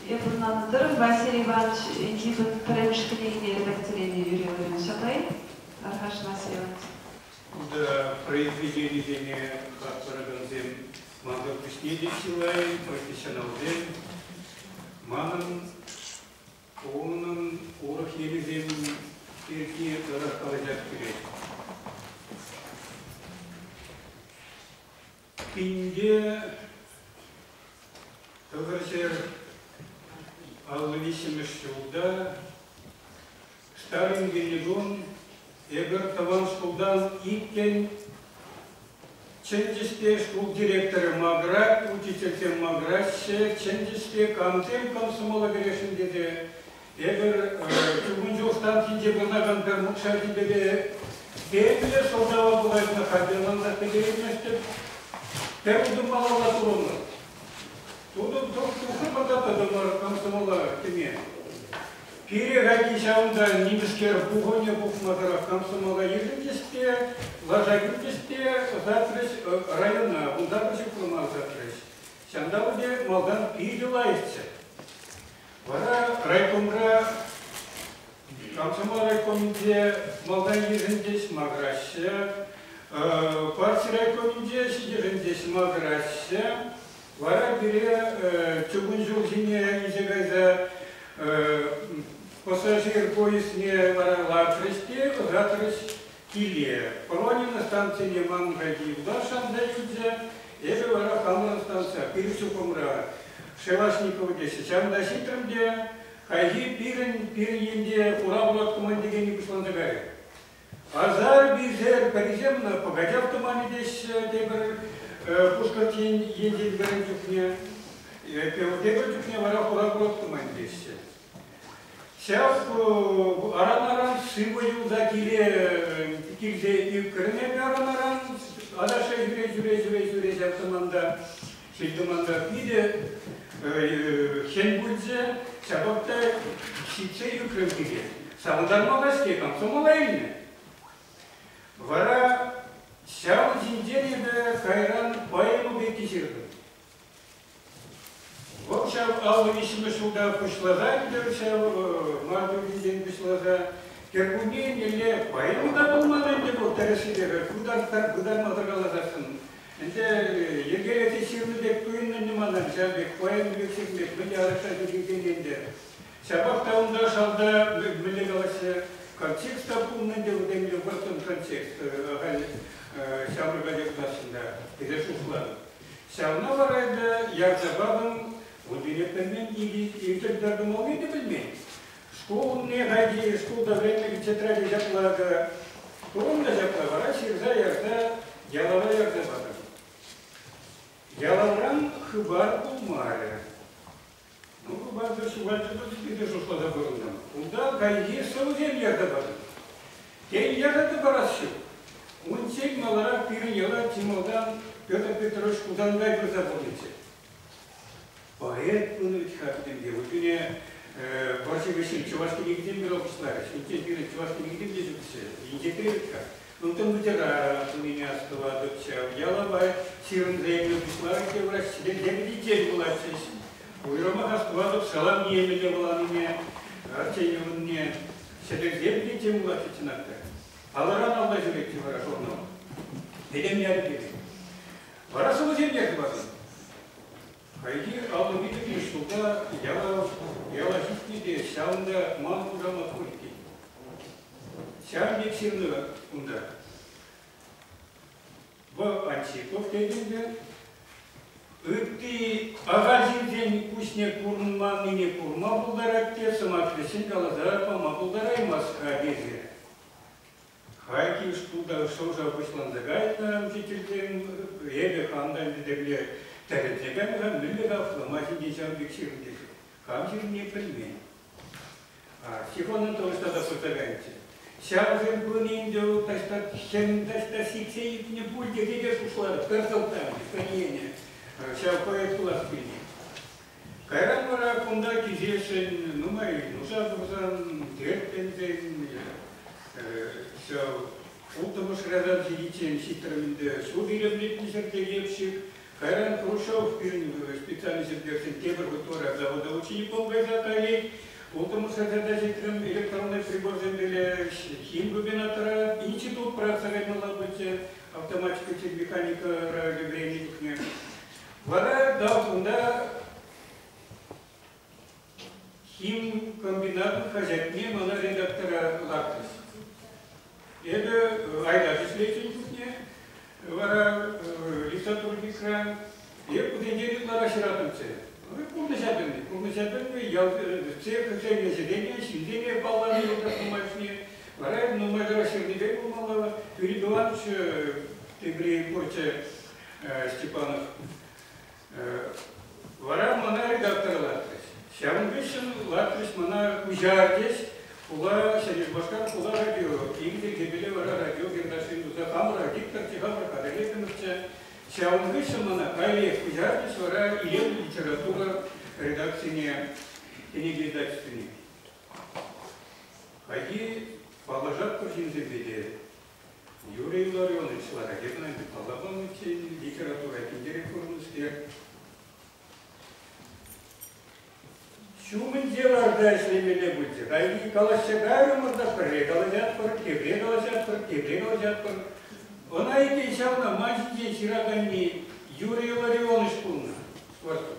Эпир Тӑрӑм Василий Иванович Египет пӗрремӗшкӗне лекцилене юрӗ вырӑнчатай, Аркаш Василий Иванович. Унта произведенисене хастаракансем мансӑр пуҫне те чылай профессионалсем манӑн Унӑн урӑх енӗсем пирки тӑрӑх калаҫас килет. Пинте тӑвӑрҫӗр аллӑ виҫҫӗмӗш ҫулта Штайнгельдун эпир тӑван шкултан иккӗн Чӗнчӗ-ҫке шкул директорӗ макӑрать, учительсем макӑраҫҫӗ, чӗнчӗ-ҫке, камсем комсомола кӗрешӗн тесе. Эпир чукун чух станцинче пурӑнакан пӗр нукҫаҫипепе Петӗре шӑлкалав пулаҫнӑ хатӗрлансах пӗтерейместӗп. Пӗр утӑм малалла турӑмӑр. Тутӑр тухрӑмӑр та тӑтӑмӑр комсомола кӗме. Пире Ракичан та нимӗскер пухӑннӑ пухма тӑрӑх комсомола йышӑнчӗҫ те, лаша кӳрчӗҫ те ӑсатрӗҫ района, унта пӗчӗклӗ ӑсатрӗҫ. Ҫанталӑк пек малтан питӗ лайӑхчӗ. Вара райкомра, комсомол райкомӗнче малтан йышӑнчӗҫ, макӑраҫҫӗ. Парти райкомӗнче ҫитӗшӗнчеҫ, макӑраҫҫӗ. Вара пире чукун ҫул ҫине илсе кайса пассажир поездне варалатрӗҫ те ӑсатрӗҫ киле. Полонина станцине ман пирки Уда шанса илчӗ, эпӗ вара хамӑр станция пир чупӑмра Шелашников теҫҫӗ. Ҫавӑнта ҫитрӗм те хайхи пирӗн пир енне хура пулат командирени пуҫланса кайрӗ. Пасар-писер пӗрисем ӑна пӑкачав туманӗ теҫҫӗ тепӗр пушкӑртен енчен вӗрен чухне, тепӗр чухне вара хура курак туман теҫҫӗ. Ҫав аран-аран шыв юлса киле килсе ӳкрӗнеп аран-аран, адаша ҫӳре-ҫӳре-ҫӳре ҫӳре ҫав саманта Ҫил-тӑмансӑртни те хӗн пулчӗ, ҫапах та ҫитсе ӳкрӗм пике. Савӑнтарма та-ҫке комсомола илнӗ. Вара ҫавӑн ҫинчен эпӗ кайран поэма пекки ҫыртӑм. Вӑл ҫав аллӑ виҫҫӗмӗш ҫулта пуҫласа ӗнтӗ ҫав мар тӳррисен пуҫласа. Кӗркунне еннелле поэма та пулман ӗнтӗ вӑл тӗрӗссипе пӗр вытанмасӑр каласассӑн Ӗнтӗ йӗркелесе ҫырнӑ пек туйӑннӑ-и манӑн ҫав пек поэма пек ҫырни? Мӗн те арӑшра ҫӳрекенсен ӗнтӗ. Ҫапах та унта шалта мӗнле калаҫҫӗ? Контекст та пулнӑ ӗнтӗ вӗсемле вӑрттӑн контекст. Ахаль ҫамрӑка йӑтасшӑн та тесе шухӑшлатӑп. Ҫавна вара ӗнтӗ Ярсапавӑн вун тине пӗлмен, илтӗн пӗр кӑмӑлне те пӗлмен. Шкул умне хайхи шкулта вӗреннӗ тетраде ҫапла акӑ курӑннӑ ҫапла вара ҫырса ярса ялава ярса патӑм. Ялавран хыпар пулмарӗ. Ну, хыпартӑр ҫухалчӗ пулчӗ питӗ шутласа пурӑнтӑм. Унта хайхи сӑвӑсем ярса патӑм. Тен, ярса парас ҫук. Унччен маларах пирӗн яла чи малтан Петр Петрович Хусанкай пырса пурӑннӑччӗ. Поэт ун вӗт-ха пӗтӗмпе. Утине вӑрҫӑ вӗҫҫӗн чӑваш кӗнекисем те ӑлӑпчӑтарӗҫ. Инҫен пирӗн чӑваш кӗнекисем те ҫукчӗ. Инҫетре вӗт-ха. Унтан вӑчӑра тунине астӑватӑпчӗ. Ялапа ҫырӑнсенне пуҫларӗ те враҫре лебедичен вулатчӗҫ. Уйрӑмах астӑватӑп салам ниемӗ те вуланине, Арчей ывӑнне. Сӗтелсем те тем вулатчӗ чӑнах та. Палӑран алла ҫӳретчӗ вара журнал. Пӗтӗм ят пирки. Вара сӑвӑсемпе хыватӑн. Хайхи алӑ витӗмлӗ ҫулта яла, яла ҫитнӗ те ҫавӑнта ман хушамат пур иккен. Ҫавӑн пек ҫырнӑ унта. Вӑл Антипов тетӗн те, ытти ахаль ҫынсен куҫне курманнине курма пултарать те сӑмах вӗҫҫӗн каласа пама пултараймасть-ха тесе. Хайкин шкул та шӑв-шав пуҫланса кайнӑ учительсем. Эпӗ хам та ӗнтӗ тӗле тӗлӗнсе кайнӑ-ха, мӗнле хавхаланма ҫинчен ҫавӑн пек ҫырӑнчӗ. Хам ҫырнине пӗлмен. Ҫех Анатолич тата пырса кайнӑччӗ. Ҫавсем пынӑ ӗнтӗ вӑл таҫта хӗм таҫта сиксе ӳкнӗ пуль тесе те шутларӑм. Пӗр сӑлтавӗ, пӗренӗ. Ҫав поэт пулас килнӗ. Кайран вара кунта килсешӗн нумай нуша курсан тертленсен ҫав улттӑмӗш рядах ҫитиччен ҫиттӗрмӗнте ҫул илемлетнисӗр те йӗпҫик. Кайран Хрущев пирӗн специальность ертӳҫин тепӗр хутора завода учеником кайса каять. Улттӑмӗш ряда ҫитрӗм электронный приборсемпеле хим губернатора институт праца каймалла пычӗ автоматика те механика времени тухнӑ. Вара да унта химкомбинат хаҫатне мана редактора лартрӗҫ. Эпӗ айта ӗҫлетӗн чухне вара э, литратурникра эп путенте ытла ҫыратӑнчӗ. Пурнӑҫа пӗлни, пурнӑҫа пӗлни, ял цех ӗҫленӗ ҫынсене паллани нумайшне. Вара нумай тӑра ҫырнипе пулмалла. Юрий Иванович Тегрей Порча Степанов. Вара мана редактора лартрӗҫ. Ҫавӑн хыҫҫӑн лартрӗҫ мана куҫар теҫ хула Шерифмашкар хула радио. Игорь Гебеле вара радио кентавшин туса хамӑра Виктор Чеханов Адалетиновча. Ҫавӑн хыҫҫӑн мана каллех куҫарчӗҫ вара илемлӗ литература редакцине, кинепередачӑсене. Хайхи паллашатпӑр ҫынсемпе те, Юрий Илларионович Лара Германовна, паллапа мультфильмӗн литература пиллӗрех пурӑннӑскер, ҫумӗн тиражта ӗҫлемелле пулчӗ. Паянхи калаҫҫа кайрӑмӑр та пӗрре калаҫатпӑр, тепре калаҫатпӑр, тепре калаҫатпӑр. Ӑна иккен ҫавна ман ҫинчен ҫыраканни Юрий Илларионович пулнӑ. Скворцов.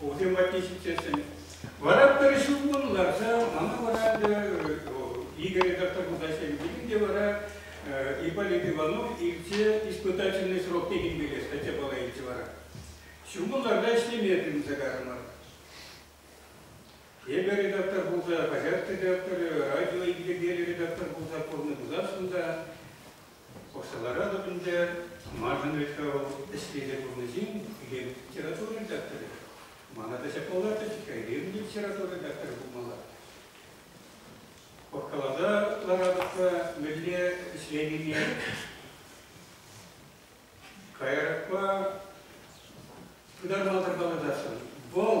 Укҫа патне ҫитсессӗн. Вара пӗр ҫулкун ларса, мана вара Игорь доктор пулса ҫемйин те вара Ипполит Иванов илсе испытательный срок текенпеле статья пала илчӗ вара. Ҫумӑн ларса ӗҫлеме тытӑнса карӑмӑр. Эпӗ редактор пулса, хаҫат редакторӗ, радио илӗркеллӗ редактор пулса пурнӑ пуласшӑн та Укҫа ларатӑп ӗнтӗ, маншӑн вӗт вӑл ӗҫлесе курнӑҫин хӳхӗм литература редакторӗ. Мана та ҫак паллатчӗҫ-ха, илем литература редакторӗ пулмалла. Пӑркаласа ларатӑп-ха мӗнле ӗҫленине. Каярахпа пытармасӑр каласашӑн, вӑл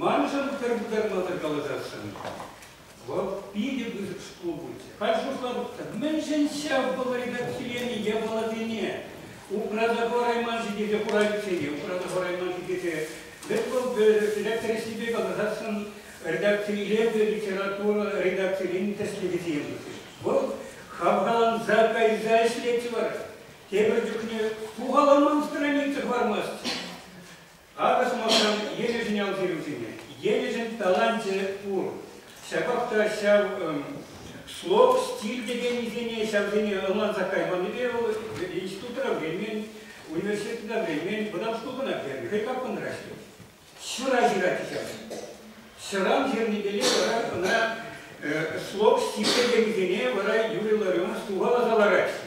Маншӑн пӗр пытармасӑр калаҫасшӑн. Вӑл питӗ пысӑк шкул пулчӗ. Халь шутлатӑп-тӑр, мӗншӗн ҫав пӑлӑрьта киленӗ япаласене упраса хӑварайман-ши тесе хурайкксене упраса хӑварайман-ши тесе вӗт вӑл редакцирессипе калаҫасшӑн редакцин илемлӗ литература редакцирен тӗслӗхӗсем пулчӗҫ. Вӑл хавхаланса кайса ӗҫлетчӗ вара. Тепӗр чухне сухаланман страница хӑвармасть. Акӑ сӑмахран Енӗшӗн ял ҫырӑвӗсене Енӗшӗн таланчӗ пур. Ҫапах та ҫав шлок, стиль текеннисене ҫавсене ӑнланса кайманнипе вӑл институтра вӗренмен, университетра вӗренмен, вӑтам шкултанах вӗренмен, хӑй капкӑнра ӗҫлет. Ҫура ҫырать ҫавсем. Ҫӑран ҫырнипеле вара ӑна шлок, стиль текеннисене вара Юрий Ларионов сухаласа лараҫҫӗ.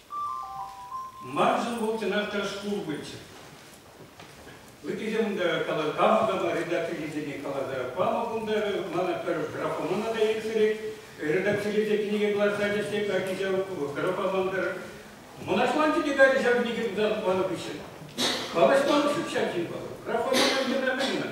Маншӑн вӑл чӑнах та шкул пулчӗ. Ыттисем унта каласа панӑ редакцилисене каласа панӑ кунта мана пӗр графомана та ирттерет, редакцилесе кӗнеке кӑларса тесе качча графа мантӑр. Мӑнаҫланчӗ те качча кӗнеке кӑларса панӑ хыҫҫӑн. Калаҫман ҫук ҫав ҫынпа. Графомана мӗн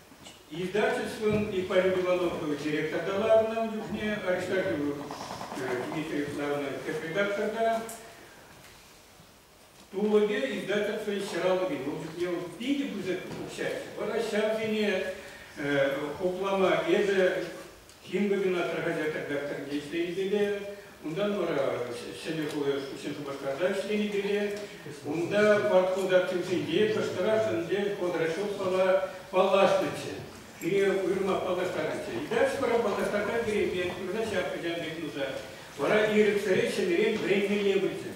Издательствӑн Ипполит Ивановкова директорта ларнӑ чухне Аристархова Дмитрий Флавна тӗп редакторта тулӑкӗ издательство ҫӑравлӑхӗн опытне питӗ пысӑк укҫа. Вара ҫавсене хуплама эсӗ Химгазина пӗр хаҫат-тӗркак тӗркеленипеле, унтан вара ҫӗнӗ хула хыҫҫӑн Шупашкарта ӗҫленипеле, унта ваткул картинсенче кӑштӑрах ӗнтӗ Ходрачевсова паллашнӑччӗ. Пире уйрӑмах паллаштарнӑччӗ. И дальше вара паллаштарса килеймпе курса ҫак ачан пек нуса. Вара ирӗксӗре ҫӗнӗрен вӗренмелле пулчӗ.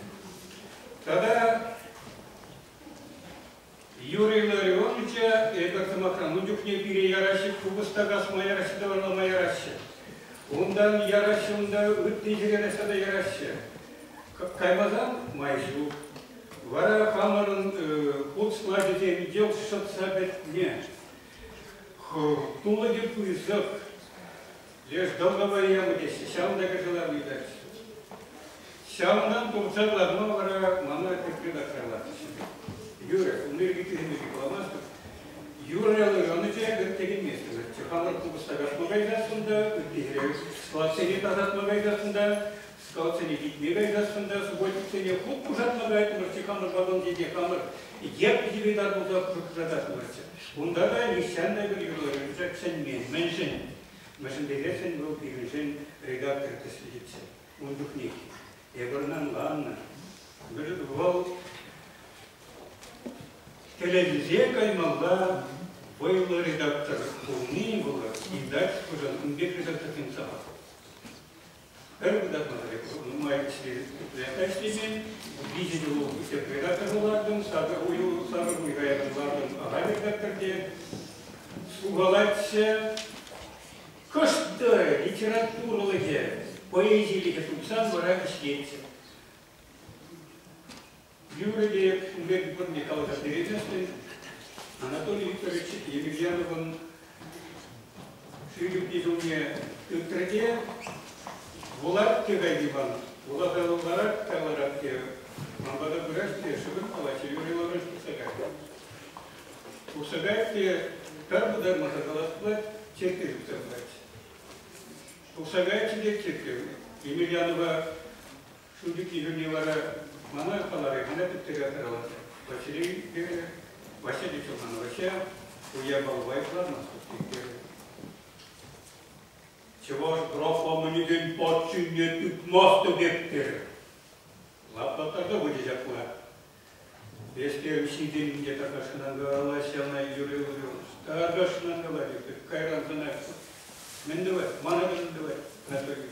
Тата Юрий Илларионовича эпир, сӑмахран, ун чухне пире яраҫҫӗ, купӑста касма яраҫҫӗ, тӑварлама яраҫҫӗ. Унтан яраҫҫӗ, унта ытти ҫӗре тата яраҫҫӗ. Каймасан май ҫук. Вара хамӑрӑн хут слачӗсем йӑл шӑтса пӗтнӗ. Тулӑкӗ пысӑк. Леш тӑлхӑва ял теҫҫӗ, ҫавӑн та кӑшӑлав ыйтать. Ҫавӑнтан тухса ларма вара мана тепре тахҫанлатаҫҫӗ. Юрӗ, ун пирки тӳсӗмлӗхе каламастӑп. Юрӗ ӑнӑ те кӑн текенместӗн. Чӑхаллӑн купӑста каҫма кайсассӑн та, ыттисене складсене тасатма кайсассӑн та, скалтсене витме кайсассӑн та, субботниксене хут пушатма кайрӑмӑрччӗ хамӑр вагонсенче хамӑр йӗп йӗпетар пулса пӑшӑрхататтӑмӑрччӗ. Унта та нихҫан та пӗр юрлӑхӗ чӗнмен. Мӗншӗн? Мӗншӗн тесессӗн вӑл пирӗншӗн редактор тӗслӗхӗччӗ. Ун чухнех эпӗ ӑна ӑнланнӑ. Вӑл тӗлӗнсе каймалла вӑйлӑ редактор пулни вӑл издательствӑшӑн ун пек редактор темсӗр. Пӗр кӑтартмасӑр нумай ӗҫлемен. Виҫӗ ҫул тӗп редакторне лартӑм, сакӑр уйӑх сакӑр уй каякан лартӑм, ага редакторте. Сухалатчӗ. Кӑшт литературӑлӑхӗ, поэзилӗхӗ тупсан вара ӗҫлетчӗ. Юрӗ те унпе пурне каласа перетӗшсен Анатолий Викторович Емельяновӑн шӳрӳкне ҫумне тытрӗ те вулать те Гайдибан. Вуласа вуларак тайларать те ман пата пырать те шывӑн палачӗ юрӗ ларать тухса кайрӗ. Тухса каять те пӗр пытармасӑр калас пулать, черкке тухса пырать. Тухса каятчӗ те черкке Емельянова Шыв пӳкки хӗрне вара мана каларӗ, мана тӗптерех хӑралатрӗ. Василейпе Вася те чӑлман. Вася ку япалупа йӑхланмастӑп терӗ. Чӑваш графоманӗсен патшине тытмастӑп эп терӗ. Лаплаттарса пычӗ ҫапла. Ӗҫке укҫи темиҫе такашынан калаҫ ӑна Юрий Львович. Такашынан калаҫӑп, кайран сӑнатпӑр. Мӗн тӑвать? Мана мӗн тӑвать, Анатолий?